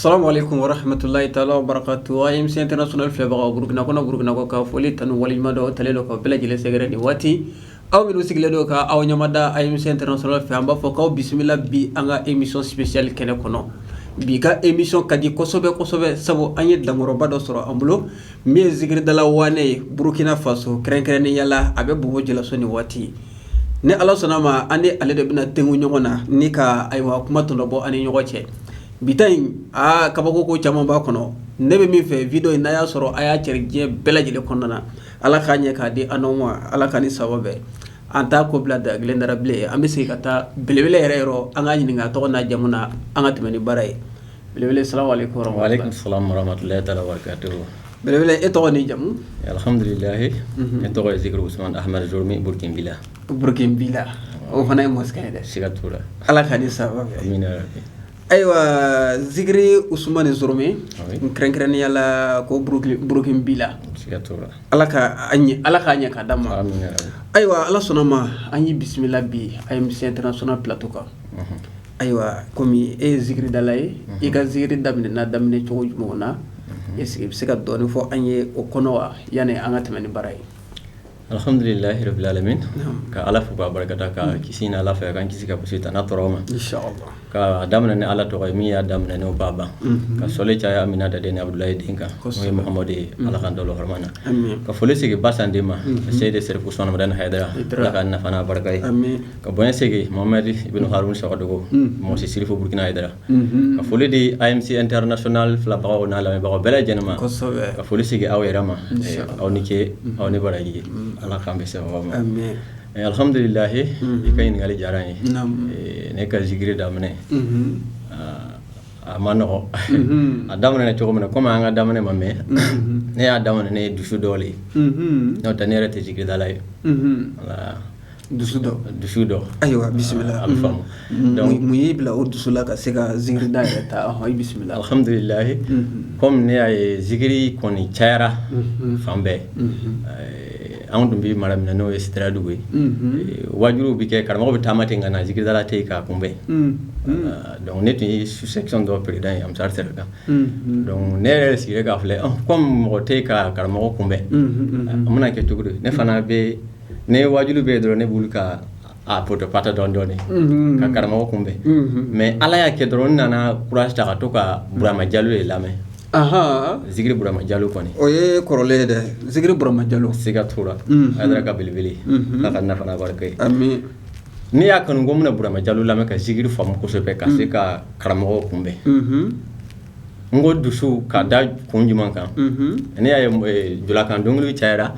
Salamu alekum warahamatulilayi taala barakatu AMC International filɛbagaw burukina kɔnɔ burukina kɔkan foli tanu ni waleɲumandɔn ta le don ka bɛɛ lajɛlen sɛgɛrɛ nin waati aw minnu sigilen don ka aw ɲɛ da AMC International fɛ an b'a fɔ k'aw bisimila bi an ka emisɔn spécial kɛnɛ kɔnɔ bi ka emisɔn ka di kosɛbɛsɛbɛ sabu an ye dakɔrɔba dɔ sɔrɔ an bolo min ye zikiridala waane ye burukina faso kɛrɛnkɛrɛnnenya la a bɛ Bobo Julaso ni waati ni ala sɔnna a ma an n'ale de bɛna denw ɲɔgɔn na ni ka ayiwa kuma tɔnɔbɔ an ni ɲɔgɔn cɛ bi ta in a kabako ko caman b'a kɔnɔ ne bɛ min fɛ wideyo in n'a y'a sɔrɔ a y'a cɛri diɲɛ bɛɛ lajɛlen kɔnɔna na ala k'a ɲɛ k'a di an ma ala ka ni saba bɛɛ an t' ko bila da kelen da bilen an bɛ se ka taa belebele yɛrɛ yɔrɔ an k'a ɲininka a tɔgɔ n'a jamu na an ka tɛmɛ ni baara ye belebele salamu alekum belebele i tɔgɔ ni jamu alihamdulila ne tɔgɔ ye zikiri usumana ahame min bolo tɛ'i la Burukina Bilali o fana ye masakɛ yɛrɛ siga t'a la ala ka di saba ayiwa zikiri usumani Sɔrɛ min kɛrɛnkɛrɛnnenya la ko burukina Bilali ala ka ala k'a ɲɛ k'a d'an ma ayiwa ala sɔnna ma an y'i bisimila bi AMC International pilato kan ayiwa kɔmi e ye zikiridala ye i ka zikiri daminɛ n'a daminɛ cogo jumɛn na ɛsiki i bɛ se ka dɔɔnin fɔ an ye o kɔnɔ wa yanni an ka tɛmɛ ni baara ye Alihamdulilahi rabil alamin ka Ala fo k'a barika da ka kisi ɲini Ala fɛ a k'an kisi ka sitanɛ tɔɔrɔ ma ka daminɛ ni Ala tɔgɔ ye min y'a daminɛ n'o b'a ban ka sɔli caya Aminata den ni Abudulayi den kan n'o ye Mahamadu ye Ala k'an to a hɔrɔma na ka foli segin Basan den ma seyidi Sɛrifu usumana Madani hayidara Ala k'an nafa n'a barika ye ka bonya segin Mohamɛdi Ibunu Haruna Sawadɔgɔ Mɔsi sirifu burukina hayidara. ka foli di AMC International filɛbagaw n'a lamɛnbagaw bɛɛ lajɛlen ma ka foli segin aw yɛrɛ ma aw ni ce aw ni baraji ala k'an bɛɛ se aw ma alihamdulilayi i ka ɲininkali diyara n ye ne ka zikiri daminɛ a man nɔgɔ a daminɛ cogo min na kɔmi an ka daminɛ ma mɛn ne y'a daminɛ ni dusu dɔ de ye n'o tɛ ne yɛrɛ tɛ zikiridala ye dusu dɔ dusu dɔ ayiwa bisimila an faamu mun y'i bila o dusu la ka se ka zikiri da yɛrɛ ta i bisimila alhamdulilayi kɔmi ne y'a ye zikiri kɔni cayara fan bɛɛ anw tun bɛ mara min n'o ye Sideradugu ye wajuluw bɛ kɛ karamɔgɔ bɛ taama ten ka na zikiridala tɛ yen k'a kunbɛn dɔnku ne tun ye su dɔ perezidan ye Ansari sira kan dɔnku ne yɛrɛ sigira k'a filɛ kɔmi mɔgɔ tɛ ka karamɔgɔ kunbɛn an bɛna kɛ cogo ne fana bɛ ne ye waajuli bɛ dɔrɔn ne bɛ wuli ka a poto pata dɔn dɔɔni ka karamɔgɔ kunbɛn mɛ ala y'a kɛ dɔrɔn n nana courage ta ka to ka burama jalo ye lamɛn zikiri burama jalo kɔni o ye kɔrɔlen ye dɛ zikiri burama jalo se ka tora a yɛrɛ ka belebele ka ka nafa barika ye ne y'a kanu ko n bɛna burama jalo lamɛn ka zikiri faamu kosɛbɛ ka se ka karamɔgɔ kunbɛn n ko dusu ka da kun jumɛn kan ne y'a jɔkan don cayayara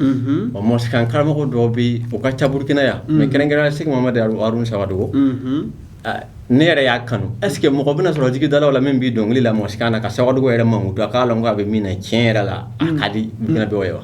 o mɔsikan karamɔgɔ dɔ bɛ u ka caurukɛnɛ yan mɛ kɛrɛnkɛ segu ma de ru saba don ne yɛrɛ y'a kanu est ce que mɔgɔ bɛna sɔrɔ zikiridala min bɛ dɔnkili da mɔsikan na ka sababu dɔgɔ yɛrɛ maku don k'a la k'a bɛ min tiɲɛ yɛrɛ la ka di jinɛ dɔw ye wa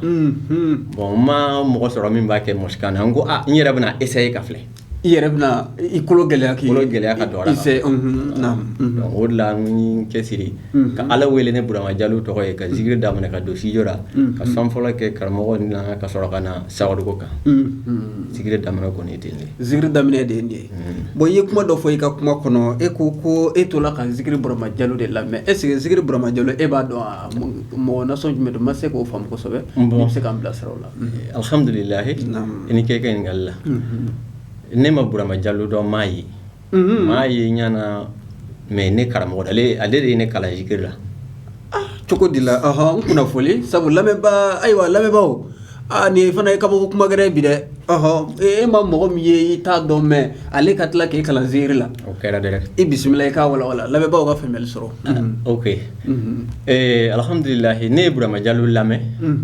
bon n ma mɔgɔ sɔrɔ min b'a kɛ mɔsikan na n ko n yɛrɛ bɛna essayer k'a filɛ I yɛrɛ bɛna i kolo gɛlɛya k'i bolo gɛlɛya ka don a la ka fɔ, unhun, naamu, donc o de la n ye n cɛsiri ka Ala wele ni Burama Jalo tɔgɔ ye ka zikiri daminɛ ka don studio la ka sɔn fɔlɔ kɛ karamɔgɔ in na ka sɔrɔ ka na sawariko kan, unhun, zikiri daminɛ kɔni ye ten de ye, zikiri daminɛ de ye nin ye, bon i ye kuma dɔ fɔ i ka kuma kɔnɔ e ko ko e tola ka zikiri Burama Jalo de lamɛn est ce que zikiri Burama Jalo e b'a dɔn wa mɔgɔ nasugu jumɛn don n ma se k'o faamu kosɛbɛ, bon i bɛ se k'an bilasira o la alihamdulila i ni ce ka ɲininkali la ne ma burama jalo dɔn m'a ye m'a ye ɲa na mɛ ne karamɔgɔ ale de ye ne kalan zikiri la cogo di la n kunna foli sabu lamɛnbaa ayiwa lamɛnbaaw aaa nin fana ye kabako kuma kɛ yɛrɛ bi dɛ e ma mɔgɔ min ye i t'a dɔn mɛ ale ka tila k'i kalan zikiri la o kɛra di e bisimila i k'a walawala lamɛnbaaw ka faamuya sɔrɔ o ee alhamdulila ne ye burama jalo lamɛn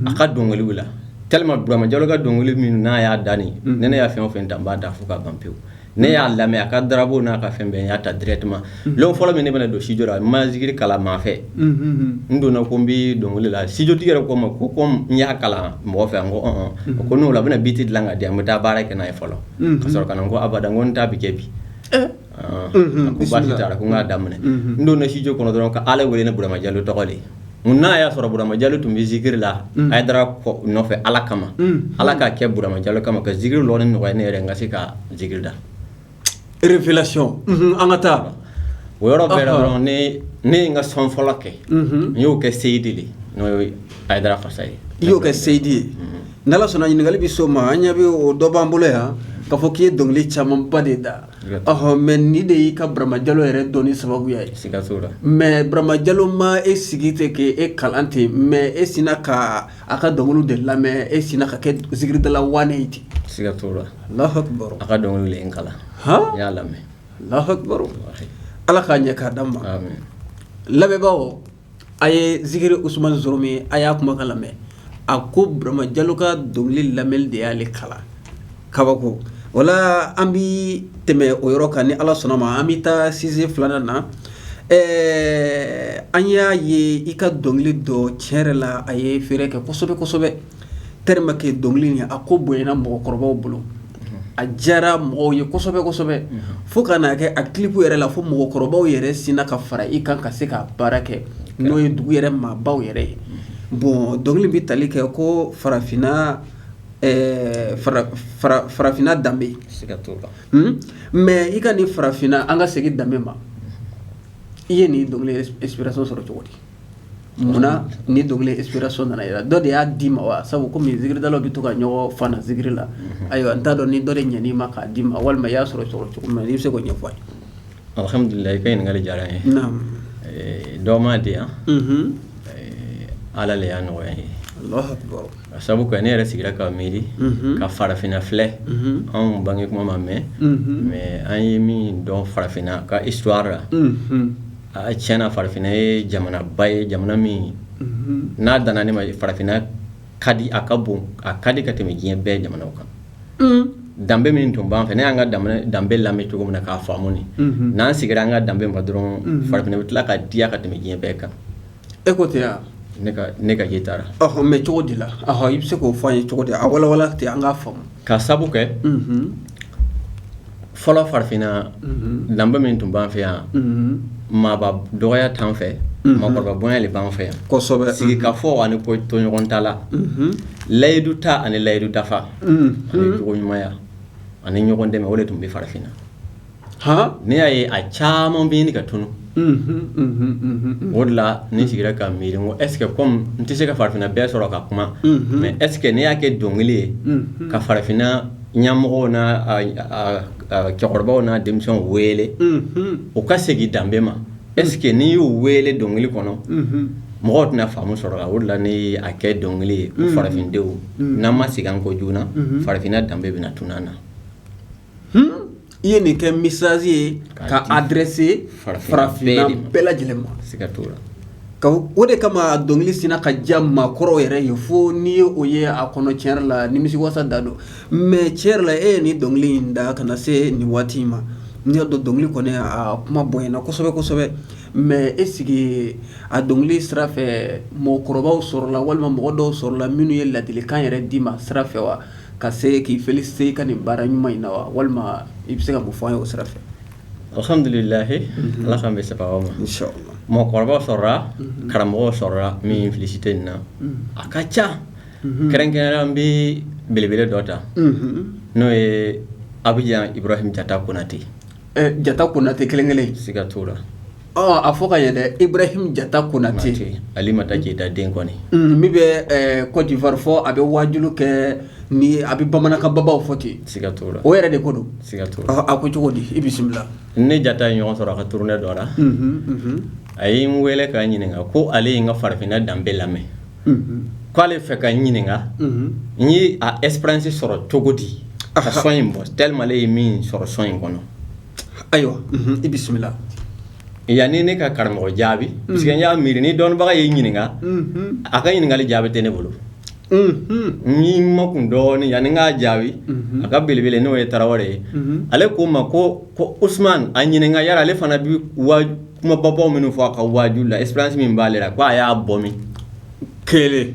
a ka dɔnkiliw la tellement burama jalo ka dɔnkili min n'a y'a da ne ne y'a fɛn o fɛn da n b'a da fo ka ban pewu ne y'a lamɛn a ka dabu n'a ka fɛn bɛɛ n y'a ta tuma fɔlɔ min ne bɛna don studio n ma zikiri kalan maa fɛ n donna ko n bɛ dɔnkili da studiotigi yɛrɛ ko n ma ko ko n y'a kalan mɔgɔ fɛ ko hɔn ko o la a bɛna biti dilan ka di an bɛ taa baara kɛ n'a ye fɔlɔ ka sɔrɔ ka ko abada ko n ta bɛ kɛ bi ko basi t'a la ko n k'a daminɛ n donna studio kɔnɔ dɔrɔn ka ala wele ni burama jalo tɔgɔ ye n'a y'a sɔrɔ burama jalo tun bɛ zikiri la a ye taara nɔfɛ ala kama ala k'a kɛ burama jalo kama ka zikiri lɔnni nɔgɔya ne yɛrɛ n ka se ka zikiri da erelasi an ka taa o yɔrɔ bɛɛ dɔrɔn n ye n ka sɔn fɔlɔ kɛ n y'o kɛ seyidi de n'o a da fasa ye i y'o kɛ seyidi ye n sɔnna ɲininkali bɛ so ma an ɲɛ bɛ o dɔ b'an bolo yan k'a fɔ k'i ye dɔnkili camanba de da Ɔɔ mɛ nin de y'i ka Burama Jalo yɛrɛ dɔnni sababu ye mɛ Burama Jalo ma e sigi ten ka e kalan ten mɛ e sinna ka a ka dɔnkili de lamɛn e sinna ka kɛ zikiridala ye ten siga a ka dɔnkili kalan y'a lamɛn ala k'a ɲɛ k'a d'an ma lamɛnbagaw a ye zikiri usumani zoromi a y'a kumakan lamɛn a ko burama jalo ka dɔnkili lamɛn de y'ale kalan kabako wala an bɛ tɛmɛ o yɔrɔ kan ni ala sɔnna ma an bɛ taa sizɛ filanan na ɛɛ an y'a ye i ka dɔnkili dɔ tiɲɛ yɛrɛ la a ye feere kɛ kosɛbɛ kosɛbɛ tɛlɛman kɛ dɔnkili in a ko bonyana mɔgɔkɔrɔbaw bolo a diyara mɔgɔw ye kosɛbɛ kosɛbɛ fo ka n'a kɛ a kilipu yɛrɛ la fo mɔgɔkɔrɔbaw yɛrɛ sinna ka fara i kan ka se ka baara kɛ n'o ye dugu yɛrɛ maabaw yɛrɛ ye bon dɔnkili bɛ tali kɛ ko farafinna farafinna danbe mɛ i ka nin farafinna an ka segin danbe ma i ye nin dɔnkili sɔrɔ cogo di munna nin dɔnkili ɛnsipirasɔn nana i yɛrɛ la dɔ de y'a d'i ma wa sabu komi zikiridalaw bɛ to ka ɲɔgɔn fana zikiri la ayiwa an t'a dɔn ni dɔ de ɲɛn'i ma k'a d'i ma walima i y'a sɔrɔ cogo o cogo i bɛ se k'a ɲɛfɔ alhamdulila i ka ɲininkali diyara n ye dɔ m'a di yan ala de y'a nɔgɔya n ye a sabu ne yɛrɛ sigira ka miiri ka farafinna filɛ anw bange kuma ma mɛɛn mɛ an ye min dɔn farafinna ka isituwari la Aa tiɲɛ na farafinna ye jamanaba ye jamana min n'a dan ne ma ye farafinna ka di a ka bon a ka di ka tɛmɛ diɲɛ bɛɛ jamanaw kan danbe min tun b'an fɛ ne y'an ka danbe lamɛn cogo min na k'a faamu n'an seginna an ka danbe ma dɔrɔn farafinna bɛ tila ka diya ka tɛmɛ diɲɛ bɛɛ kan E ko ten yan ne ka e taara mɛ cogo de la i bɛ se k'o fɔ an ye cogo di a wawa ten an ka faamu ka sabu kɛ fɔlɔ farafinna danbe min tun b'an fɛ yan maaba dɔgɔya t'an fɛ mɔgɔkɔrɔba bonya de b'an fɛ yan kɔsɔ sigikafɔ ani kotoɲɔgɔntala layidu ta ani layidu dafa ani jogoɲumanya ani ɲɔgɔn dɛmɛ o de tun bɛ farafinna ne y'a ye a caman bɛ ɲini ka tunun o de la n sigira ka miiri ko ɛsike n tɛ se ka farafinna bɛɛ sɔrɔ ka kuma mɛ ɛsike ni n y'a kɛ dɔnkili kelen ye ka farafinna ɲɛmɔgɔw n'a cɛkɔrɔbaw n'a denmisɛnw wele u ka segin danbe ma ɛsike n'i y'u wele dɔnkili kɔnɔ mɔgɔ tɛna faamu sɔrɔ a la o la n y'a kɛ dɔnkili ye farafindenw n'an ma segin an ko joona farafinna danbe bɛna tunun an na i ye nin kɛ mesazi ye ka adrese farafinna bɛɛ lajɛlen ma se ka la o de kama dɔnkili sinna ka diya maakɔrɔw yɛrɛ ye fo n'i ye o ye a kɔnɔ tiɲɛ yɛrɛ la nimisiwasa de don mɛ tiɲɛ yɛrɛ la e ye nin dɔnkili in da ka na se nin waati in ma n y'a dɔn dɔnkili kɔni kuma bonyana kosɛbɛ kosɛbɛ mɛ e sigi a dɔnkili sira fɛ mɔgɔkɔrɔbaw sɔrɔla la walima mɔgɔ dɔw sɔrɔla la minnu ye ladilikan yɛrɛ d'i ma sira fɛ wa Ka se k'i félicité i ka nin baara ɲuman in na wa walima i bɛ se ka mun fɔ an ye o sira fɛ alhamdulilayi ala k'an bɛɛ saba ma mɔgɔkɔrɔba sɔrɔla karamɔgɔ sɔrɔla min ye n félicité nin na a ka ca kɛrɛnkɛrɛnnenya la n bɛ belebele dɔ ta n'o ye Abidjan Ibrahim jata konatɛ jata konatɛ kelen kelen siga t'a la A fɔ ka yɛlɛ Ibrahim jata konatɛ alimata keyita den kɔni min bɛ Côte d'Ivoire fo a bɛ waju kɛ ni a bɛ bamanankan babaw fɔ ten siga t'a la o yɛrɛ de ko don siga t a ko cogo di i bisimila ne ni jata ye ɲɔgɔn sɔrɔ a ka tournée dɔ la a ye n wele ka n ɲininka ko ale ye n ka farafinna danbe lamɛn k' ale fɛ ka n ɲininka n ye a expérience sɔrɔ cogo di ka sɔn in bɔ tellement ale ye min sɔrɔ sɔn in kɔnɔ ayiwa i bisimila yani ne ka karamɔgɔ jaabi parce que n y'a miiri ni dɔnnibaga y'i ɲininka a ka ɲininkali jaabi tɛ ne bolo n ye n makun dɔɔnin yani n k'a jaabi a ka belebele n'o ye tarawele ye ale k'o ma ko usman a ɲininka yala ale fana bɛ kuma babaw minnu fɔ a ka waju la expérience min b'ale la k' a y'a bɔ min kelen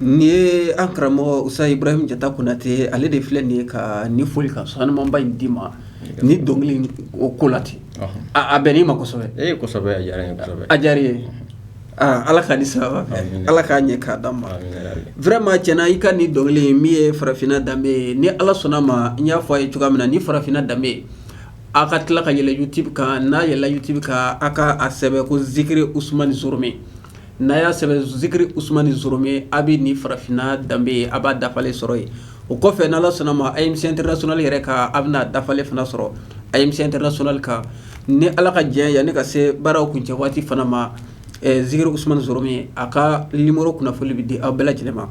Nin ye an karamɔgɔ usitazi Ibrahim jata konatɛ ale de filɛ nin ye ka nin foli ka samaba in d'i ma nin dɔnkili o ko la ten a bɛn' ma ye aaa ala ka ni saba ala k'a ɲɛ k'a d'an ma vraiment i ka nin dɔnkili min ye farafinna danbe ye ni ala sɔnna ma n y'a fɔ aw ye cogoya min na nin farafinna danbe aw ka tila ka yɛlɛn YouTube kan n'aw yɛlɛnna YouTube kan aw ka a sɛbɛn ko zikiri usmani zorome n'aw y'a sɛbɛn zikiri usmani zorome aw bɛ nin farafinna danbe ye aw b'a dafalen sɔrɔ yen o kɔfɛ ala sɔnna ma a yetɛla soli yɛrɛ kan aw bɛn'a dafalen fana sɔrɔ a yetɛla soli kan ni ala ka diɲɛ yani an ka se baaraw kuncɛ waati fana ma zikiri usman zorome a ka nimɔrɔ kunnafoni bɛ di aw bɛɛ lajɛlen ma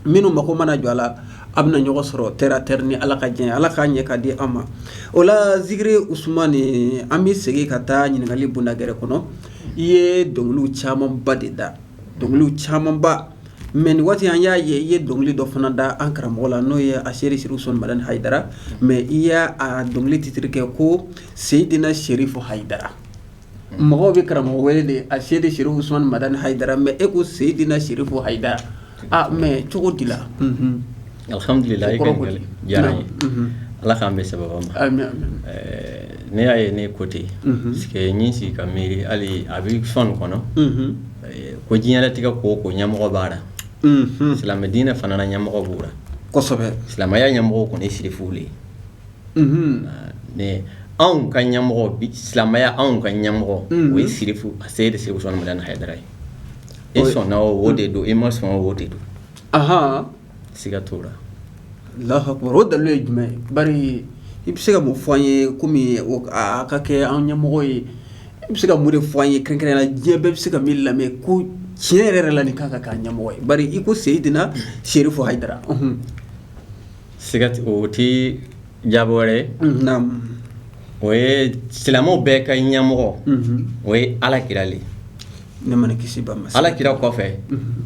minnu mako mana jɔ a la aw bɛna ɲɔgɔn sɔrɔ tɛ tɛ ni ala ka diɲɛ ala k'a ɲɛ k'a di an ma o la zikiri usmani an bɛ segin ka taa ɲininkakali bonda gɛrɛ kɔnɔ I ye dɔnkili camanba de da dɔnkili camanba mais nin waati an y'a ye i ye dɔnkili dɔ fana da an karamɔgɔ la n'o ye aseyid serifu usman madani hayidara mais i y'a dɔnkili titiri kɛ ko seyidina serifu hayidara mɔgɔw bɛ karamɔgɔ wele de aseyid serifu usman madani hayidara mais e ko seyidina serifu hayidara Aa mɛ cogo di la alhamdulila i diyara ye ala k'an bɛɛ saba ma ne y'a ye ne ko ten n ye n sigi n ye n sigi ka miiri hali a bɛ sɔn kɔnɔ ko diɲɛ latigɛ ko o ko ɲamɔgɔ b'a la silamɛ diinɛ fana na ɲamɔgɔ b'o la silamɛya ɲamɔgɔ kɔni serifu de ye anw ka ɲamɔgɔ silamɛya anw ka ɲamɔgɔ o ye serifu aseyid usman madani hayidara ye E sɔn o de don e ma sɔn o de don aɔn siga t'o la alahu akbar o dalu ye jumɛn ye i bɛ se ka mun fɔ an ye kɔmi ka kɛ an ɲɛmɔgɔ ye i bɛ se ka mun de fɔ an ye kɛrɛnkɛrɛnnenya la diɲɛ bɛɛ bɛ se ka min lamɛn ko tiɲɛ yɛrɛ yɛrɛ la nin ka kan ka kɛ an ɲɛmɔgɔ ye bari i ko seyidina serifu hayidara siga o tɛ jaabi wɛrɛ ye o ye silamɛw bɛɛ ka ɲɛmɔgɔ o ye ala kira de nɛɛma ni kisi b'a ye ala kira kɔfɛ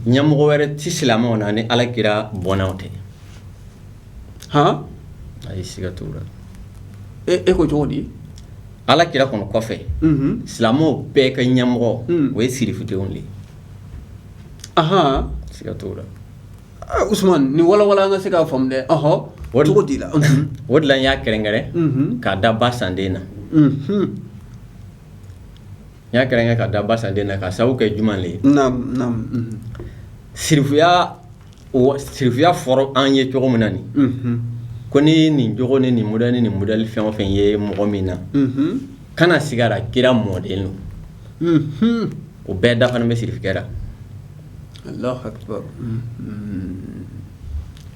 ɲamɔgɔ wɛrɛ tɛ silamɛw na ni ala kira bɔnnaw tɛ hɔn a ye siga t'o la e ko cogo di ala kira kɔnɔ kɔfɛ silamɛw bɛɛ ka ɲɛmɔgɔ o ye sirifudenw de ye siga t'o la wala an ka se k'a faamu dɛ cogo la o la y'a kɛrɛnkɛrɛn k'a da basan den na n y'a kɛrɛn k'a da basan den na ka sababu kɛ juma ye sirifuya sirifuya fɔra an ye cogo min na nin ko ni nin jogo ni nin mud ni nin mudli fɛn o fɛn ye mɔgɔ min na kana siga a ra kira mɔden don o bɛɛ dafalen bɛ sirifukɛ ra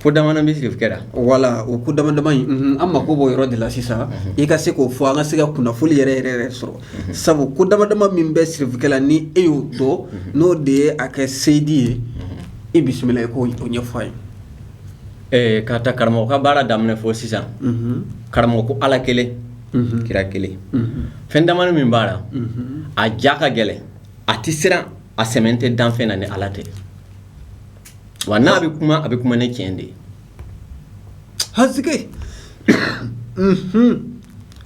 Ko damadɔ bɛ sirifukɛ ra wala o ko dama dama in an mako b'o yɔrɔ de la sisan i ka se k'o fɔ an ka se ka kunnafoni yɛrɛ yɛrɛ yɛrɛ sɔrɔ sabu ko dama dama min bɛ sirifukɛ la ni e y'o dɔn n'o de ye a kɛ seyidi ye e bisimila i k'o ɲɛfɔ an ye ɛɛ ka ta karamɔgɔ ka baara daminɛ fɔ sisan karamɔgɔ ko ala kelen kira kelen fɛn dama min b'a la a ja ka gɛlɛn a tɛ siran a sɛmɛnen tɛ danfɛn na ni ala tɛ wa n'a bɛ kuma a bɛ kuma ni cɛn de ye hake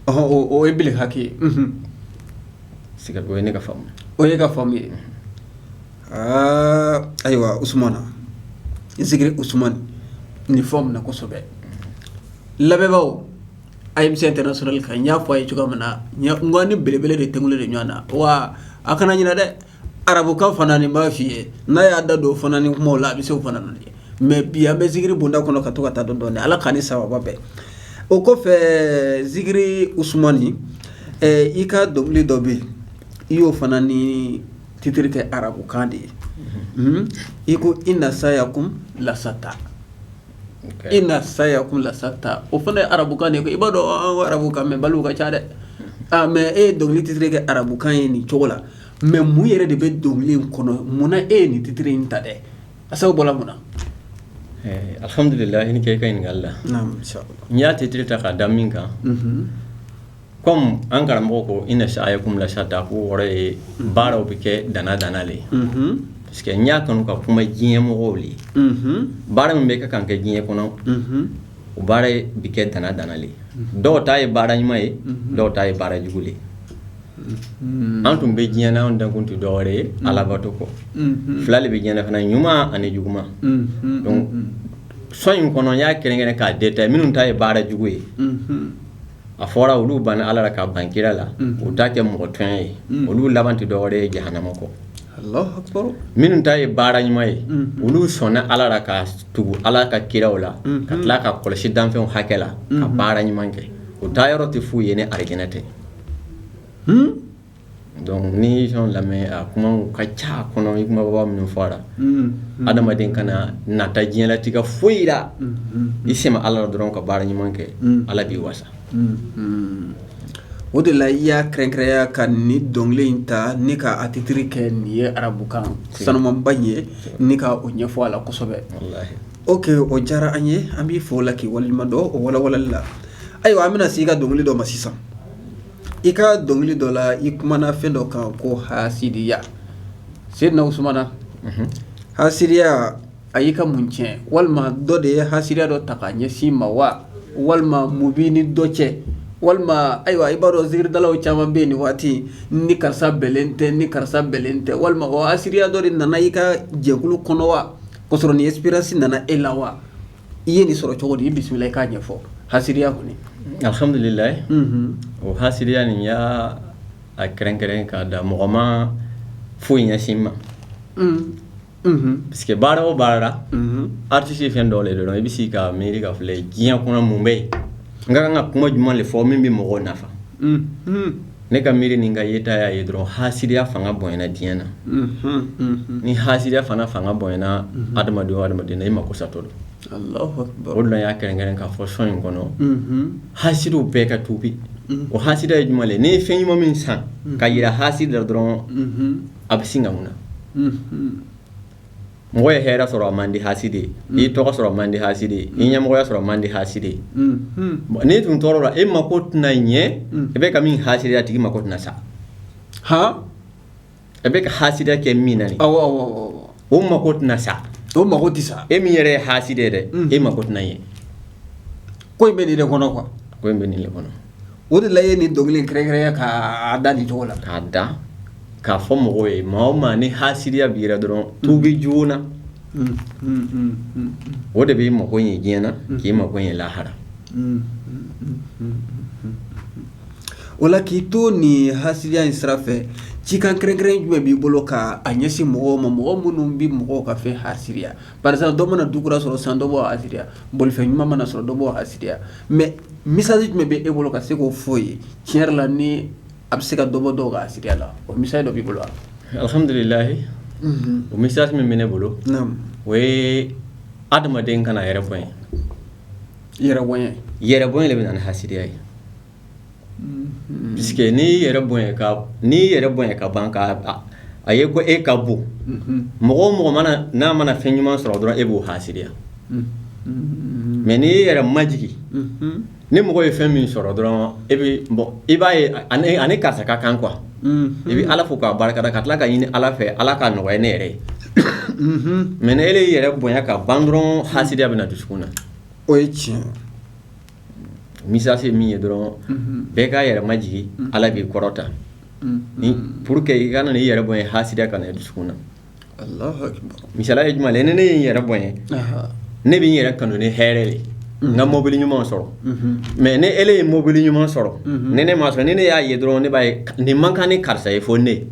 o ye bere hake sɛgɛ o ye ne ka faamu o ye ka faamu ye aa ayiwa usmani zikiri usmani fo min na kosɛbɛ labɛnbagaw A ye fisa tɛna sɔrɔli kan n y'a fɔ a ye cogo min na ɲɛ ni belebele de tɛg de ɲɔgɔn na wa a kana ɲɛna dɛ arabukan fana ni b'a f fɔi ye n'a y'a da don o fana ni kuma la a bɛ se o fana ye mɛ bi an bɛ zikiri bonda kɔnɔ ka to ka taa dɔn dɔn ala ka ni saba bɛɛ o kɔfɛ zikiri usmani i ka dɔnkili dɔ bɛ yen i y'o fana ni titiri kɛ arabukan de ye i ko ina sayakum lasata ina sayakum lasata o fana ye arabukan i b'a dɔn arabukan mɛnbaliw ka ca dɛ mɛ e dɔnkili titiri kɛ arabukan ye nin cogo la mɛ mun yɛrɛ de bɛ dɔnkili in kɔnɔ munna e ye nin titiri in ta dɛ a sababu bɔra mun na alihamdulila i ni ce i ka ɲininkali la n y'a titiri ta k'a da min kan kɔmi an karamɔgɔ ko inna sa'yakum lashatta ko o kɔrɔ ye baaraw bɛ kɛ danna danna de ye parce que n y'a kanu ka kuma diɲɛ mɔgɔw de ye baara min bɛ kan ka kɛ diɲɛ kɔnɔ o baara bɛ kɛ danna danna le dɔw ta ye baara ɲuman ye dɔw ta ye baara jugu ye an dun bɛ diɲɛ anw dankun tɛ dɔ wɛrɛ ye ala bato kɔ fila de bɛ diɲɛ fana ɲuman ani jugu son in kɔnɔ n y'a kɛrɛnkɛrɛn k'a dɛmɛ minnu ta ye baara jugu ye a fɔra olu banna ala la ka ban kira la u ta kɛ mɔgɔ tɔɲɔ ye olu laban tɛ dɔ wɛrɛ ye jahanama kɔ minnu ta ye baara ɲuman ye olu sɔnna ala la ka tugu ala ka kiraw la ka tila ka kɔlɔsi danfɛnw hakɛ la ka baara ɲuman kɛ u taa yɔrɔ tɛ foyi ye ni alijana tɛ Donc n'i ye son in lamɛn a kumaw ka ca a kɔnɔ i kunbaba minnu fɔla adamaden kana nata diɲɛlatigɛ foyi la i sɛmɛ Ala la dɔrɔn ka baara ɲuman kɛ Ala b'i wasa o de la i y'a kɛrɛnkɛrɛnya ka nin dɔnkili in ta ni ka a titre kɛ nin ye arabukan sanumanba in ye ni ka o ɲɛfɔ a la kosɛbɛ ok o diyara an ye an b'i fo o la k'i waleɲumandɔn o walawalali la ayiwa an bɛna se i ka dɔnkili dɔ ma sisan I ka dɔnkili dɔ la i kumana fɛn dɔ kan ko hasidiya seyidina usumana hasidiya a y'i ka mun tiɲɛ walima dɔ de ye hasidiya dɔ ta ka ɲɛsin i ma wa walima mun b'i ni dɔ cɛ walima ayiwa i b'a dɔn zikiridalaw caman bɛ yen nin waati ni karisa bɛnnen tɛ n ni karisa bɛnnen tɛ walima hasidiya dɔ de nana i ka jɛkulu kɔnɔ wa k'o sɔrɔ nin inspiration nana e la wa i ye nin sɔrɔ cogo di i bisimila i k'a ɲɛfɔ hasidiya kɔni alhamdulilayi o hasidiya ni n y'a kɛrɛnkɛrɛn k'a ta mɔgɔ ma foyi ɲɛsin n ma parce que baara o baara la artiste ye fɛn dɔ le dɔrɔn i bɛ sigi ka miiri k'a filɛ diɲɛ kɔnɔ mun bɛ yen n ka kan ka kuma jumɛn de fɔ min bɛ mɔgɔw nafa ne ka miiri ni n ka yeta y'a ye dɔrɔn hasidiya fanga bonyana diɲɛ na ni hasidiya fana fanga bonyana adamadenw na i mako satɔ don o de la n y'a kɛrɛnkɛrɛn k'a fɔ son in kɔnɔ hasidiw bɛɛ ka tuubi o hasidi ye jumɛn ye n'i ye fɛn ɲuman min san k'a jira hasidi la dɔrɔn a bɛ sin ka mun na Mɔgɔ ye hɛrɛ sɔrɔ a man di hasidi ye n'i ye tɔgɔ sɔrɔ a man di hasidi ye n'i ye ɲɛmɔgɔya sɔrɔ a man di hasidi ye n'i dun tɔɔrɔla e mako tɛna ɲɛ i bɛ ka min hasidiya a tigi mako tɛna sa e bɛ ka hasidiya kɛ min na o mako tɛna sa o mako tɛ sa e min yɛrɛ ye hasidi ye dɛ e mako tɛna ye ko in bɛ nin de kɔnɔ quoi ko in bɛ nin kɔnɔ O de la i ye nin dɔnkili kɛrɛnkɛrɛnya k'a da nin cogo la k'a da k'a fɔ mɔgɔw ye maa o maa ni hasidiya b'i la dɔrɔn tuubi joona o de b'i mako ɲɛ diɲɛ na k'i mako ɲɛ lahara o la k'i to ni hasidiya in sira fɛ cikan kɛrɛnkɛrɛn jumɛn b'i bolo ka a ɲɛsin mɔgɔw ma mɔgɔ minnu bɛ mɔgɔw ka fɛn hasidiya par exemple dɔ mana du kura sɔrɔ san dɔ b'o hasidiya bolifɛn ɲuman mana sɔrɔ dɔ b'o hasidiya mɛ message jumɛn bɛ e bolo ka se k'o fɔ o ye tiɲɛ yɛrɛ la ni a bɛ se ka dɔ bɔ dɔw ka hasidiya la o message dɔ b'i bolo alhamdulilayi o message min bɛ ne bolo o ye adamaden kana yɛrɛ bonya yɛrɛbonya de bɛ na ni hasidiya ye ka ban k'a ye ko e ka bon mɔgɔ o mɔgɔ mana n'a mana fɛn ɲuman sɔrɔ dɔrɔn e b'o hasidiya mɛ n' e yɛrɛ majigin ni mɔgɔ ye fɛn min sɔrɔ dɔrɔn e i b'a ye a ni karisa ka kan qu i bɛ ala fo k'a barika da ka tila k'a ɲini ala fɛ ala k'a nɔgɔya ne yɛrɛ ye mɛ e yɛrɛ bonya ka ban dɔrɔn hasidiya bɛ na dusukun na o ye tiɲɛ message min ye dɔrɔn bɛɛ k'a yɛrɛ majigin ala b'i kɔrɔta ni pour que i kana i yɛrɛ bonya hasidiya ka na dusu na misali ye jumɛn ni ne y' yɛrɛ bonya ne bɛ yɛrɛ kanu ni hɛrɛ ye n ka mɔbili ɲuman sɔrɔ mɛ ni e ye mɔbili ɲuman sɔrɔ ni ne m'a sɔrɔ ni ne y'a ye dɔrɔn ne b'a ye nin man kan ni karisa ye fo ne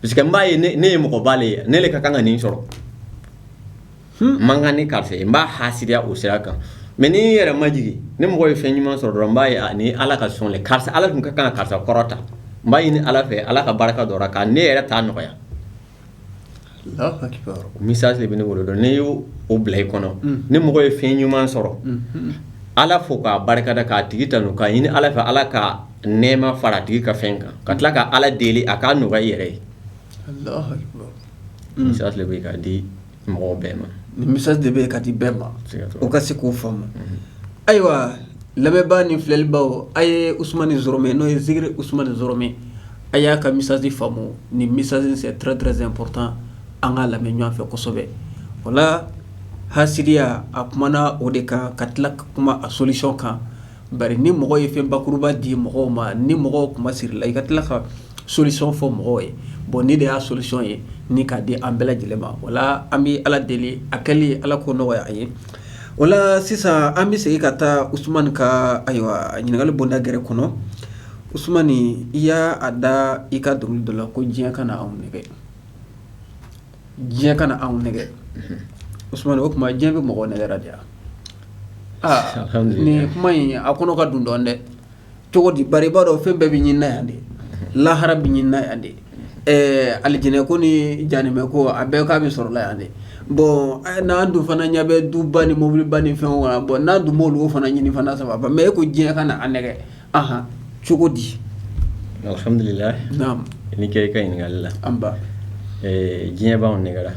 parce que n b'a ye ne ye mɔgɔba le ye ne de ka kan ka nin sɔrɔ man kan ni karisa n b'a hasidiya o sira kan mɛ n'i yɛrɛ majigin ni mɔgɔ ye fɛn ɲuman sɔrɔ dɔrɔn n b'a ni ala ka sɔn karisa ala tun ka kan ka karisa kɔrɔta n b'a ɲini ala fɛ ala ka barika don a kan ne yɛrɛ ta nɔgɔya message de bɛ ne bolo donc n'e y' o bila i kɔnɔ ni mɔgɔ ye fɛn ɲuman sɔrɔ ala fo k'a barika da k'a tigi ta k'a ɲini ala fɛ ala ka nɛma fara tigi ka fɛn kan ka tila ka ala deli a k'a nɔgɔya yɛrɛ ye message bɛ ka di mɔgɔw bɛɛ ma nin message de bɛ ka di bɛɛ ma u ka se k'o faamu ayiwa lamɛnbaa ni filɛlibaw a ye usumani zoromɛ n'o ye zikiri usumani zoromɛ a y'a ka message faamu nin message très très important an k'a lamɛn ɲɔgɔnfɛ kosɛbɛ kosɛbɛ wala hasidiya a kumana o de kan ka tila ka kuma a solution kan bari ni mɔgɔ ye fɛn bakuruba di mɔgɔw ma ni mɔgɔ kuma siri la i ka tila kan solution fɔ mɔgɔw ye bon nin de y'a solution ye ni k'a di an bɛɛ lajɛlen ma wala an bɛ ala deli a kɛli ala k'o nɔgɔya a ye wala sisan an bɛ segin ka taa usumani kan ayiwa ɲininkakali bonda gɛrɛ kɔnɔ usumani i y'a da i ka dɔnkili dɔ la ko diɲɛ kana na anw nɛgɛn diɲɛ kana na anw nɛgɛn o tuma diɲɛ bɛ mɔgɔ nɛgɛn diyara aa kuma in a kɔnɔ ka dun dɔɔnin dɛ cogo di ba b'a dɔn fɛn bɛɛ bɛ ɲini yan de lahara bɛ ɲini yan de ɛɛ alijinɛ ko ni jahanama ko a bɛɛ k'a bɛ sɔrɔla yan de bɔn n'an dun fana ɲɛ bɛ duba ni mobiliba ni fɛn wa bɔn n'a dun b'o fana ɲini fana saba mɛ e ko diɲɛ kana an nɛgɛ aɔn cogo di alihamdulila i ni ce i ka ɲininkali la an diɲɛ b'an nɛgɛla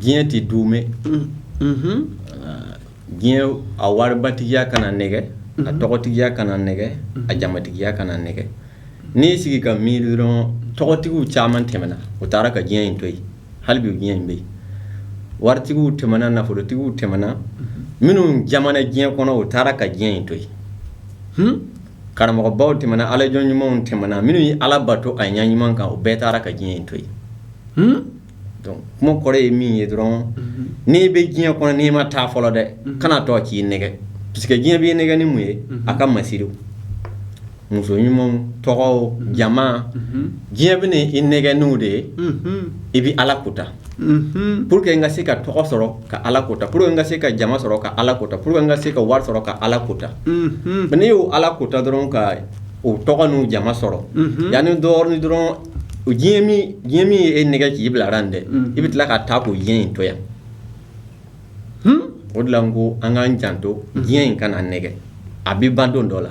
diɲɛ tɛ du mɛn diɲɛ a waribatigiya kana an nɛgɛ a tɔgɔtigiya kana an nɛgɛ a jamatigiya kana an nɛgɛ n'i y'i sigi ka miiri dɔrɔn tɔgɔtigiw caman tɛmɛna u taara ka diɲɛ in to yen hali bi diɲɛ in bɛ yen waritigiw tɛmɛna nafolotigiw tɛmɛna minnu jamana diɲɛ kɔnɔ u taara ka diɲɛ in to yen hmm? karamɔgɔbaw tɛmɛna ala jɔn ɲumanw tɛmɛna minnu ye ala bato a ɲɛ ɲuman kan u bɛɛ taara ka diɲɛ in to yen hmm? kuma kɔrɔ ye min ye dɔrɔn mhm. n'i bɛ diɲɛ kɔnɔ n'i ma taa fɔlɔ dɛ mhm. kan'a to k'i nɛgɛ parce que diɲɛ b'i nɛgɛ ni mun ye mhm. a ka masiri muso ɲumanw tɔgɔw jama diɲɛ bɛ i nɛgɛ n'u de ye i bɛ ala ko ta pour que n ka se ka tɔgɔ sɔrɔ ka ala ko ta pour que n ka se ka jama sɔrɔ ka ala ko ta pour que n ka se ka wari sɔrɔ ka ala ko ta n'i y'o ala ko ta dɔrɔn ka o tɔgɔ n'o jama sɔrɔ yanni dɔɔnin dɔrɔn o diɲɛ min ye e nɛgɛ k'i bila a la dɛ i bɛ tila ka taa k'o diɲɛ in to yan hmm? o de ko an k'an janto diɲɛ in kana an nɛgɛ a bɛ ban don dɔ la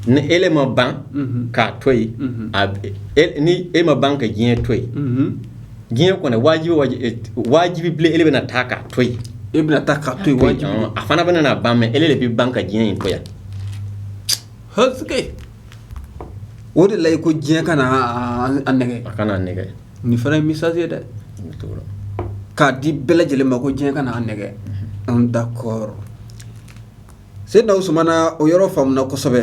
ni e ma ban mhm. k'a to yen mhm. e, ni e ma ban ka diɲɛ to yen mhm. diɲɛ kɔnɔ wajibi wajibi bilen e bɛna taa k'a to yen e bɛna taa k'a to yen wajibi a fana bɛna na ban mɛ e de bɛ ban ka diɲɛ in to yan o de la i ko diɲɛ kana an nɛgɛ a kana an nɛgɛ nin fana ye message ye dɛ k'a di bɛɛ lajɛlen ma ko diɲɛ kana an nɛgɛ an d'accord seyidina usumana o yɔrɔ faamuna kosɛbɛ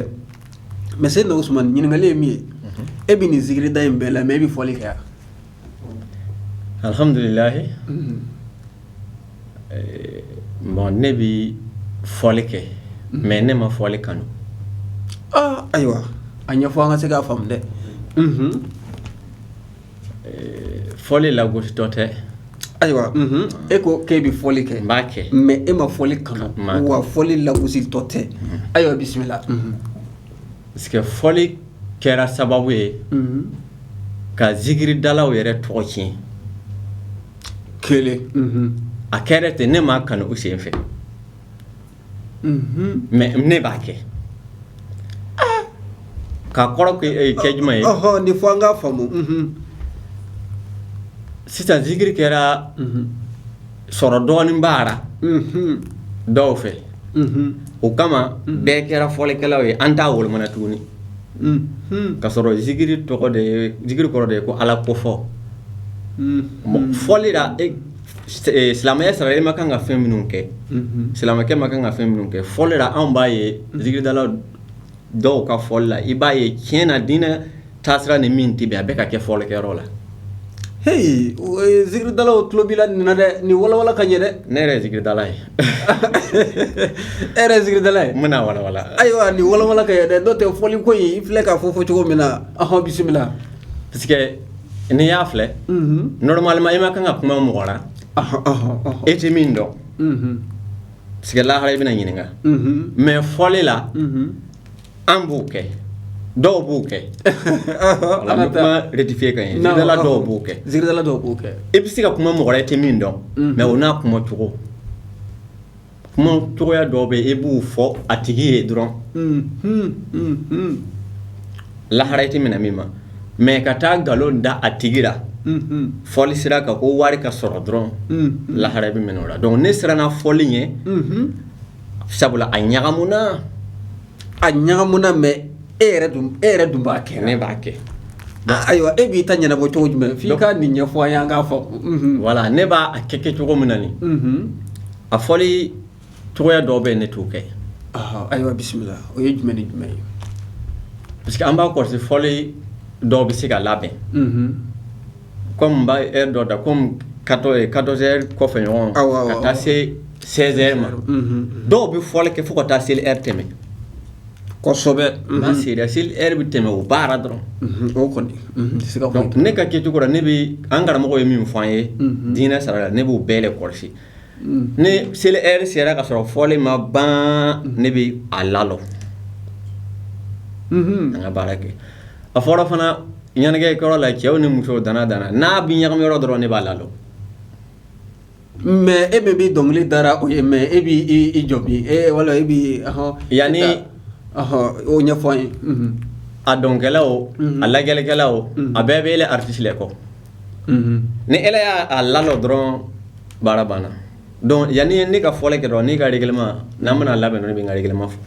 mɛ seyidina usumana ɲininkali ye min ye e bɛ nin zikiri da in bɛɛ la mɛ e bɛ fɔli kɛ yan Alihamdulila bon ne bɛ fɔli kɛ mɛ ne ma fɔli kanu ayiwa a ɲɛfɔ an ka se k'a faamu dɛ fɔli lagositɔ tɛ ayiwa e ko k'e bɛ fɔli kɛ n b'a kɛ mɛ e ma fɔli kanu wa fɔli lagositɔ tɛ ayiwa bisimila parce que fɔli kɛra sababu ye ka zikiridalaw yɛrɛ tɔgɔ tiɲɛ kelen a kɛra ten ne ma kanu u sen fɛ mɛ ne b'a kɛ k'a kɔrɔ kɛ jumɛn ye nin fɔ an k'a faamu sisan zikiri kɛra sɔrɔ dɔɔnin b'a ra dɔw fɛ o kama bɛɛ kɛra fɔlikɛlaw ye an t'a wolomana tuguni ka sɔrɔ zikiri tɔgɔ de zikiri kɔrɔ de ye ko ala kofɔ fɔli silamɛya sariya i ma kan ka fɛn minnu kɛ silamɛkɛ ma kan ka fɛn minnu kɛ fɔli anw b'a ye zikiridala dɔw ka fɔli la i b'a ye tiɲɛ na diinɛ taasira ni min tɛ bɛn a bɛ ka kɛ fɔlikɛyɔrɔ la heyi zikiridalaw tulo b'i la nin na dɛ nin walawala ka ɲɛ dɛ ne yɛrɛ ye zikiridala ye e yɛrɛ ye zikiridala ye n bɛna walawala ayiwa nin walawala ka ɲɛ dɛ n'o tɛ fɔli ko in i filɛ k'a fɔ fɔ cogo min na ɔhɔn bisimila parce que n'i y'a filɛ normalement i ma kan ka kuma mɔgɔ la e tɛ min dɔn sika lahara i bɛna ɲininka mhm. mais fɔli la mhm. an b'o kɛ dɔw b'o kɛ an bɛ kuma rectifier ka ɲɛ zikiridala dɔw b'o kɛ zikiridala dɔw b'o kɛ i bɛ se ka kuma mɔgɔ la i tɛ min dɔn mhm. mais o n'a kuma cogo kuma cogoya dɔw bɛ yen i b'u fɔ a tigi ye dɔrɔn lahara i tɛ minɛ min ma mais ka taa nkalon da a tigi la fɔli sira kan ko wari ka sɔrɔ dɔrɔn lahara i bɛ minɛ o la donc ne siranna fɔli ɲɛ sabula a ɲagamina a ɲagamina mais e e yɛrɛ dun b'a kɛ ne b'a kɛ ayiwa e b'i ta ɲɛnabɔ cogo jumɛn f'i ka nin ɲɛfɔ yan k'a fɔ wala ne b'a kɛ kɛ cogo min na nin a fɔ cogoya dɔw bɛ yen ne t'o kɛ ayiwa bisimila o ye jumɛn ni jumɛn ye parce que an b'a kɔlɔsi fɔli dɔw bɛ se ka labɛn kɔmi bɛ heure dɔ da kɔmi quatre heures kɔfɛ ɲɔgɔn ka taa se six heures ma dɔw bɛ fɔli kɛ fo ka taa seli heure tɛmɛ kosɛbɛ n sera seli heure bɛ tɛmɛ o baara dɔrɔn o kɔni ne ka kɛcogo la ne bɛ an karamɔgɔ ye min fɔ an ye diinɛ sariya la ne b'o bɛɛ kɔlɔsi ni seli heure sera ka sɔrɔ fɔli ma ban ne bɛ a lalɔ an ka baara kɛ a fɔyɔrɔ fana ɲɛnajɛkɛyɔrɔ la cɛw ni musow dan na dan na n'a bɛ ɲagami yɔrɔ dɔrɔn ne b'a lalɔ mais e bɛ bɛ dɔnkilidala o ye mais e b'i jɔ bi e wala e bɛ yanani o ɲɛfɔ ye a dɔnkɛla o a lajɛlikɛla o a bɛɛ bɛ e artiste kɔ ni ele y'a lalɔ dɔrɔn baara banna yanani ye ne ka fɔli kɛ dɔrɔn n'i ka règlement n'a mana labɛn ne bɛ règlement fɔ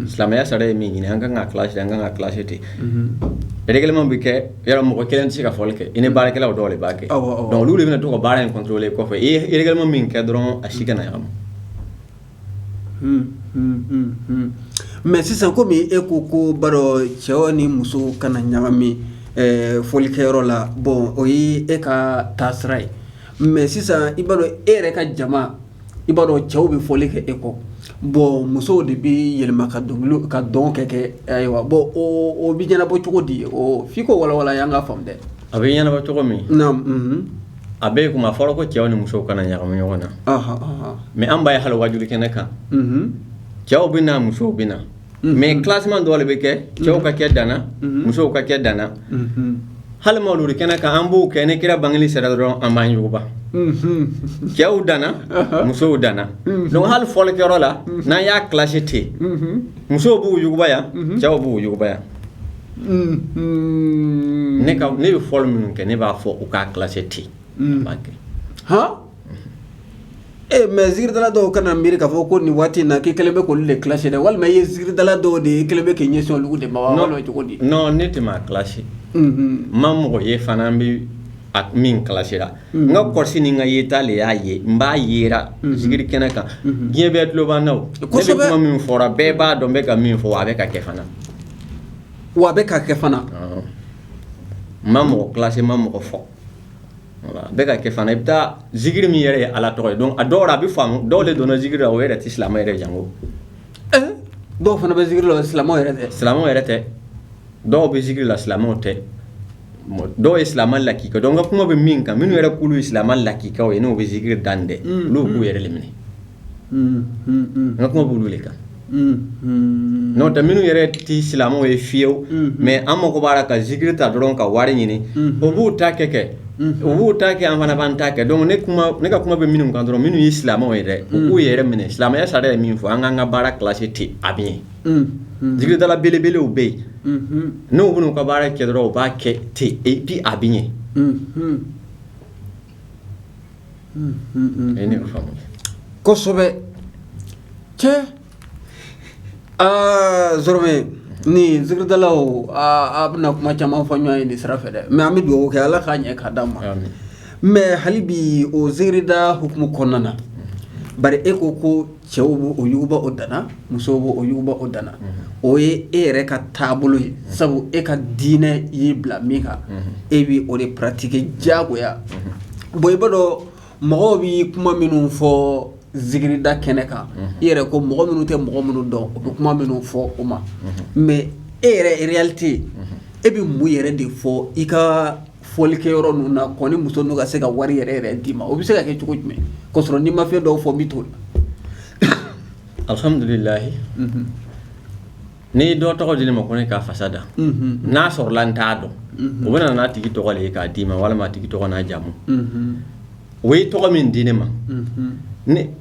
silamɛya sariya ye min ɲini an kan kalasi an kan ka kilasi ten règlement bɛ kɛ yɔrɔ mɔgɔ kelen tɛ se ka fɔli kɛ i ni baarakɛla dɔw de b'a kɛ olu de bɛna to ka baara in contrôler kɔfɛ i ye règlement min kɛ dɔrɔn a si kana ɲagami mɛ sisan kɔmi e ko ko ba cɛ ni muso kana ɲagami fɔlikɛyɔrɔ la bɔn o ye e ka taasira ye mɛ sisan i b'a dɔn e yɛrɛ ka jama i b'a dɔn cɛw bɛ fɔli kɛ e kɔ bɔn musow de bɛ yɛlɛma ka ka dɔn kɛ kɛ ayiwa bɔn o bɛ ɲɛnabɔ cogo di f'i k'o walawala an k'a faamu a bɛ ɲɛnabɔ cogo min a bɛ kuma fɔlɔ ko cɛw ni musow kana ɲagami ɲɔgɔn na mɛ an b'a ye hali waaju kɛnɛ kan cɛw bɛ na musow bɛ na mɛ kilasi dɔw de bɛ kɛ cɛw ka kɛ dan na musow ka kɛ dan na hali mawuludu kɛnɛ kan an b'o kɛ ni kira bange sera dɔrɔn an b'anba cɛw dan na musow dan na don hali fɔli kɛyɔrɔ la n'an y'a kilasi ten musow b'u yuguba yan cɛw b'u yuguba yan ne bɛ fɔli minnu kɛ ne b'a fɔ u k'a kilasi ten u b'a kɛ hɔn e mɛ zikiridala dɔw kana miiri k'a fɔ ko nin waati in na k'i kɛlen bɛ k'olu de kilasi dɛ walima i ye zikiridala dɔw de ye kɛlen bɛ k'i ɲɛsin olu de ma cogo di ne tɛ maa kilasi ma mɔgɔ ye fana n bɛ min kilasira n ka kɔrɔsi ni n ka yeta de y'a ye n b'a ye zikiri kɛnɛ kan diɲɛ bɛɛ tulo b'an na ko min fɔra bɛɛ b'a dɔn bɛ ka min fɔ a bɛ ka kɛ fana wa a bɛ ka kɛ fana ma mɔgɔ kilasi ma mɔgɔ fɔ bɛ ka kɛ fana i bɛ taa zikiri min yɛrɛ ye ala tɔgɔ ye dɔn a dɔw a bɛ faamu dɔw de donna zikiri la o yɛrɛ tɛ silamɛ yɛrɛ janko dɔw fana bɛ zikiri la silamɛ yɛrɛ silamɛ yɛrɛ tɛ dɔw bɛ zikiri la silamɛw tɛ dɔw ye silamɛ lakika don n ka kuma bɛ min kan minnu yɛrɛ k'olu ye silamɛ lakikaw ye n'o bɛ zikiri da dɛ olu b'u yɛrɛ minɛ n ka kuma b'olu de kan N'o tɛ minnu yɛrɛ tɛ silamɛw ye fiyewu mɛ an mako b'a la ka zikiri ta dɔrɔn ka wari ɲini o b'u ta kɛ kɛ u b'u ta kɛ an fana b'an ta kɛ dɔn ne ka kuma bɛ minnu kan dɔrɔn minnu ye silamɛw ye dɛ u k'u yɛrɛ minɛ silamɛya sariya ye min fɔ an k'an ka baara kilasi ten an b'a ye zikiridala belebelew bɛ yen n'u bɛ ka baara kɛ dɔrɔn u b'a kɛ ten bi a bɛ ɲɛ kosɛbɛ cɛ zɔrɔmɛ ni zikiridalaw an bɛna kuma caman fɔ ɲɔgɔn ye nin sira fɛ dɛ mɛ an bɛ dugawu kɛ ala k'a ɲɛ k'a d'an ma mɛ hali bi o zikirida hukumu kɔnɔna na bari e ko ko cɛw b'u yuguba u dan na musow b'u yuguba u dan na unhun o ye e yɛrɛ ka taabolo ye unhun sabu e ka diinɛ y'i bila min kan unhun e bi o de pratiquer diyagoya unhun bon i b'a dɔn mɔgɔw bi kuma minnu fɔ zikirida kɛnɛ kan unhun i yɛrɛ ko mɔgɔ minnu tɛ mɔgɔ minnu dɔn unhun u bɛ kuma minnu fɔ o ma unhun mais e yɛrɛ réalité unhun e bi mun yɛrɛ de fɔ i kaa fɔli kɛ yɔrɔ ninnu na kɔni muso ninnu ka se ka wari yɛrɛ yɛrɛ d'i ma o bɛ se ka kɛ cogo jumɛn k'a sɔrɔ n'i ma fɛn dɔw fɔ n bɛ t'o la alhamdulilahi n'i dɔ tɔgɔ di ne ma ko ne k'a fasa da n'a sɔrɔla n t'a dɔn o bɛ na n'a tigi tɔgɔ de ye k'a d'i ma walima a tigi tɔgɔ n'a jamu o ye tɔgɔ min di ne ma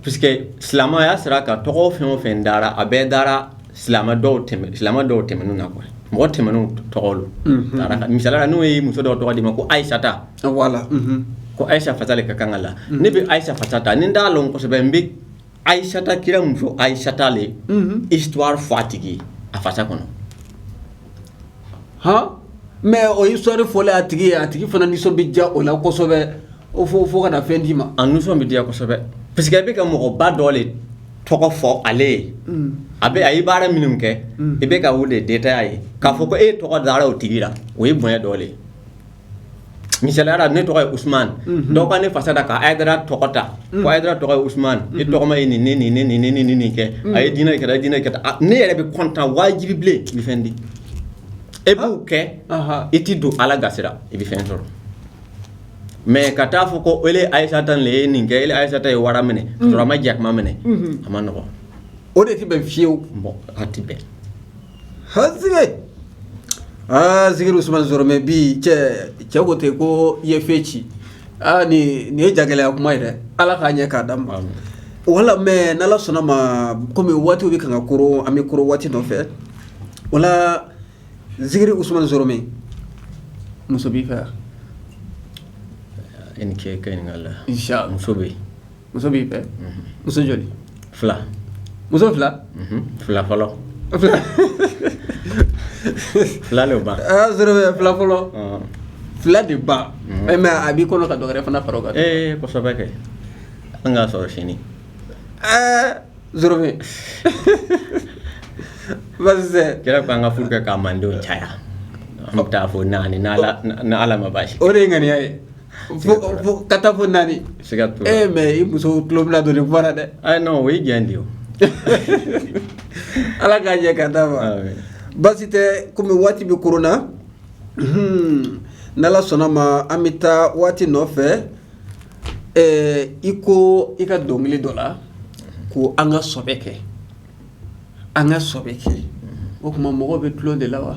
parce que silamɛya sira kan tɔgɔ fɛn o fɛn dara a bɛɛ dara silamɛ dɔw tɛmɛnna koyi mɔgɔ tɛmɛn tɔgɔ misali la n'o ye muso dɔ tɔgɔ d'i ma ko ayisata ko ayisa fasa le ka kan ka la ne bɛ ayisa fasa ta ni d'a dɔn kosɛbɛ n ayisata kira muso ayisata le istuwari fɔ a tigi a fasa kɔnɔ hɔn mɛ o istuwari fɔlen a tigi ye a tigi fana nisɔn bɛ diya o la kosɛbɛ o fo fo ka na fɛn d'i ma a nisɔn bɛ diya kosɛbɛ parce que i bɛ ka mɔgɔba dɔ le tɔgɔ fɔ ale ye a bɛ a ye baara minnu kɛ i bɛ ka o le detaya ye k'a fɔ ko e tɔgɔ dara o tigi la o ye bonya dɔ le ye misali la ne tɔgɔ ye usumana dɔw ka ne fasa da k'a da tɔgɔ ta da tɔgɔ ye usumana ni tɔgɔma ye nin nin ni nin ni nin kɛ a ye diinɛ kɛra diinɛ kɛ ne yɛrɛ bɛ kɔntan wajibi le i bɛ fɛn di e b'o kɛ i t tɛ don ala gasi la i bɛ fɛn sɔrɔ mɛ ka taa a fɔ ko e ayisata nin ye nin kɛ e ayisata ye wara minɛ ma jakuma minɛ a ma nɔgɔ o de tɛ bɛn fewu a tɛ bɛn hazige aa zigiri usumani zɔrɔmɛ bi cɛ cɛ ko ten ko i ye fɛn ci aa ni nin ye jagɛlɛya kuma ye dɛ ala k'a ɲɛ k'a d'a ma wala mɛ n'ala sɔnna ma komi waatiw bɛ kan ka kuru an bɛ kuru waati nɔfɛ wala zigiri usumani zɔrɔmɛ muso b'i fɛ i ni ce i ka ɲininkali la muso bɛ yen muso b'i fɛ muso joli fila muso fila fila fɔlɔ fila de ba fila fɔlɔ fila de ba mɛ a b'i kɔnɔ ka dɔ wɛrɛ fana fara o kan ee kosɛbɛ kɛ an k'a sɔrɔ sini ɛɛ kira ko an ka furu kɛ k'a mandenw caya an bɛ taa fɔ naani ni ala ma baasi o de ye ŋaniya ye Ka taa fɔ naani e mɛ i muso tulo bɛna don fara dɛ o ye jan de ala k'a ɲɛ ka da ma baasi tɛ kɔmi waati bɛ kuru na n'ala sɔnna ma an bɛ taa waati nɔfɛ i ko i ka dɔnkili dɔ la ko an ka sɔbɛ kɛ an ka sɔbɛ kɛ o tuma mɔgɔ bɛ tulon de la wa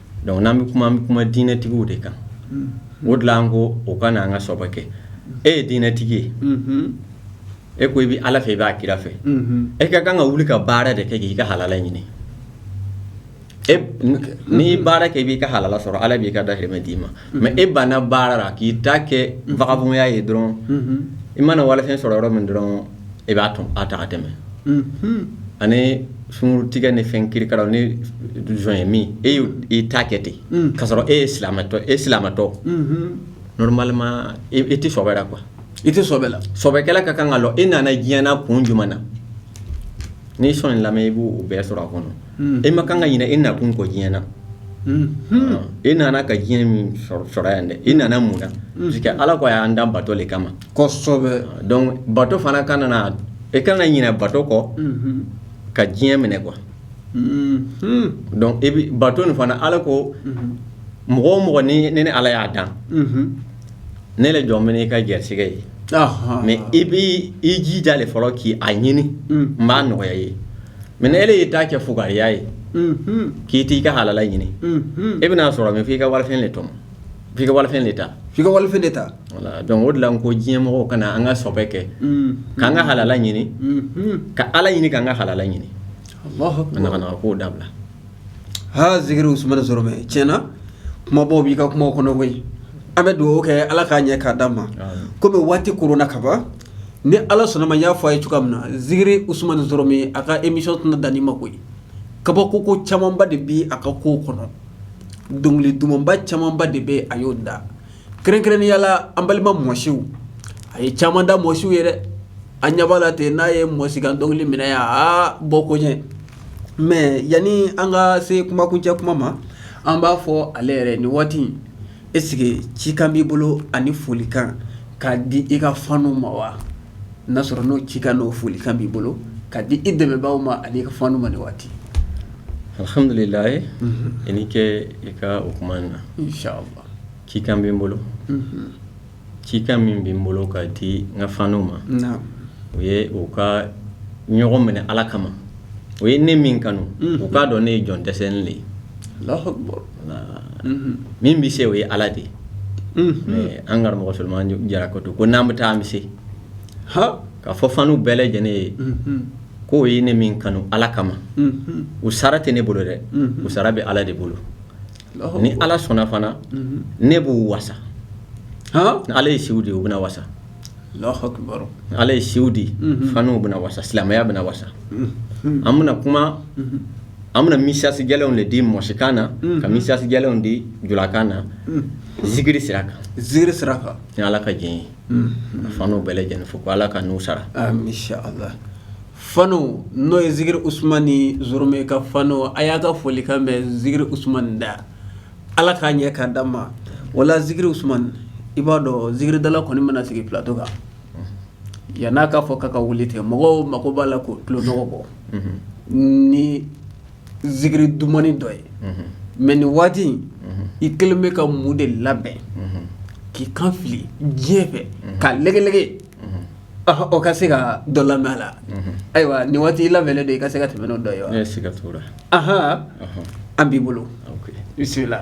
Dɔnku n'an bɛ kuma an bɛ kuma diinɛtigiw de kan o de la n ko u ka na an ka sɔbɛ kɛ e ye diinɛtigi ye e ko i bɛ ala fɛ i b'a kira fɛ e ka kan ka wuli ka baara de kɛ k'i ka halala ɲini n'i baara kɛ i b'i ka halala sɔrɔ ala b'i ka dahirimɛ d'i ma mɛ e banna baara la k'i ta kɛ vagabɔnya ye dɔrɔn i mana walifɛn sɔrɔ yɔrɔ min dɔrɔn e b'a tɔn a ta tɛmɛ ani sun tigɛ ni fɛn kirikara ni joint min e y'i ta kɛ ten ka sɔrɔ e yetɔ e silamɛtɔ normalement e tɛ sɔbɛ la kuwa i tɛ sɔbɛ kɛla ka kan ka e nana diɲɛ na kun jumɛn na n'i sɔn in lamɛn i b'o bɛɛ sɔrɔ a kɔnɔ e man kan ka ɲinɛ e nakun kɔ diɲɛ na e nana ka diɲɛ min sɔrɔ yan dɛ i nana mun na ala ko a y'an dan bato de kama bato fana kɔnɔna e kana ɲinɛ bato kɔ ka diɲɛ minɛ kuwa e bɛ bato nin fana ala ko mɔgɔ mɔgɔ ni ne ala y'a dan ne yɛrɛ jɔlen bɛ n'i ka garisɛgɛ ye mɛ i bɛ i jija de fɔlɔ k' a ɲini n b'a nɔgɔya i ye mɛ n'e y'i ta kɛ fugariya ye k'i t' i ka halala ɲini e bɛn'a sɔrɔ min f'i ka wari de tɔmɔ F'i ka walifɛn de ta, f'i ka walifɛn de ta voilà donc o de la n ko diɲɛ mɔgɔw ka na an ka sɔbɛ kɛ, unhun, k'an ka halala ɲini, unhun, ka Ala ɲini k'an ka halala ɲini, Alahu akbar, ka naganaga kow dabila, haa zikiri Usumana Zɔrɔmɛ tiɲɛ na kumabaw b'i ka kuma kɔnɔ koyi, an bɛ dugawu kɛ Ala k'a ɲɛ k'a d'a ma, amin, komi waati koronna ka ban ni Ala sɔnna a ma n y'a fɔ a ye cogoya min na zikiri Usumana Zɔrɔmɛ a ka émission tɛna dan nin ma koyi kabakoko camanba de bɛ a ka kow kɔnɔ dɔnkili dumanba camanba de bɛ a y'o da kɛrɛnkɛrɛnnenya la an balima mɔsiw a ye caman da mɔsiw ye a ɲɛba la ten n'a ye mɔsikan dɔnkili minɛ yan aa bɔ ko ɲɛ mɛ yanni an ka se kuma kuncɛ kuma ma an b'a fɔ ale yɛrɛ nin waati ɛsike cikan b'i bolo ani folikan ka di i ka fanw ma wa n'a sɔrɔ n'o cikan n'o folikan b'i bolo ka di i dɛmɛbaaw ma ani i ka fanw ma nin waati alihamdulilayi i ni ce i ka kuma in na inshallah cikan bɛ n bolo cikan min bɛ n bolo ka di n ka fanw ma o ye u ka ɲɔgɔn minɛ ala kama u ye ne min kanu u k'a dɔn ne ye jɔn dɛsɛlen de ye min bɛ se o ye ala de ye mɛ an karamɔgɔ solomani jara ko don ko n'an bɛ taa an bɛ se k'a fɔ fanw bɛɛ lajɛlen ye k'u ye ne min kanu ala kama u sara tɛ ne bolo dɛ u sara bɛ ala de bolo ni ala sɔnna fana ne b'u wasa ni ala ye si di u bɛna wasa ala ye si di fanw bɛna wasa silamɛya bɛna wasa an bɛna kuma an bɛna mesazi jɛlenw de di mɔsikan na ka mesazi jɛlenw di julakan na zikiri sira kan zikiri sira kan ni ala ka diɲɛ ye fanw bɛɛ lajɛlen fo ko ala ka n'u sara Fan n'o ye zikiri usmani zoromɛ ka fan a y'a ka foli kan mɛ zikiri usman da ala k'a ɲɛ k'a d'an ma wala zikiri usman i b'a dɔn zikiridala kɔni mana sigi plato kan yan n'a k'a fɔ k'a ka wuli ten mɔgɔw mako b'a la k'u tulo nɔgɔ bɔ ni zikiri duman dɔ ye mɛ nin waati i kɛlen bɛ ka mun de labɛn k'i kan fili diɲɛ fɛ ka lɛgɛge O ka se ka dɔ la la ayiwa nin waati i labɛnnen don i ka se ka tɛmɛ ni dɔ ye aɔn an b'i bolo i bisimila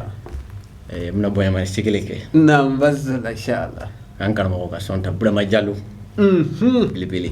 n bɛna bɔyama seg kɛ n la an karamɔgɔ ka sɔn ta burama jalo bbele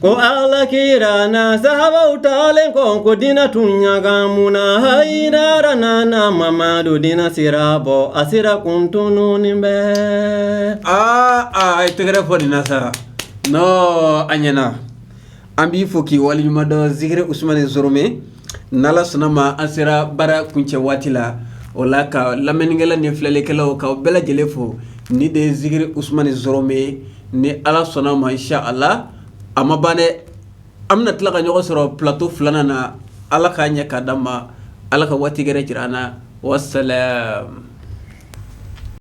Ko Ala kira n'a sahaabaw taalen kɔ ko diinɛ tun ɲagamuna, Hayidara nana Mamadu diinɛ sira bɔ a sira kun tununen bɛ, aa a ye tɛgɛrɛ fɔ nin na sa, non a ɲɛna, an b'i fo k'i waleɲumandɔn Zikiri Usumani Zorome, n' Alla sɔnn'a ma an sera baara kuncɛ waati la, o la ka lamɛnnikɛla ni filɛlikɛlaw k'aw bɛɛ lajɛlen fo, nin de ye Zikiri Usumani Zorome ye. ni ala sɔnn'a ma inshala a ma ban an bɛna tila ka ɲɔgɔn sɔrɔ plato filanan na ala k'a ɲɛ k'a d'an ma ala ka waati wɛrɛ jira an na wasalam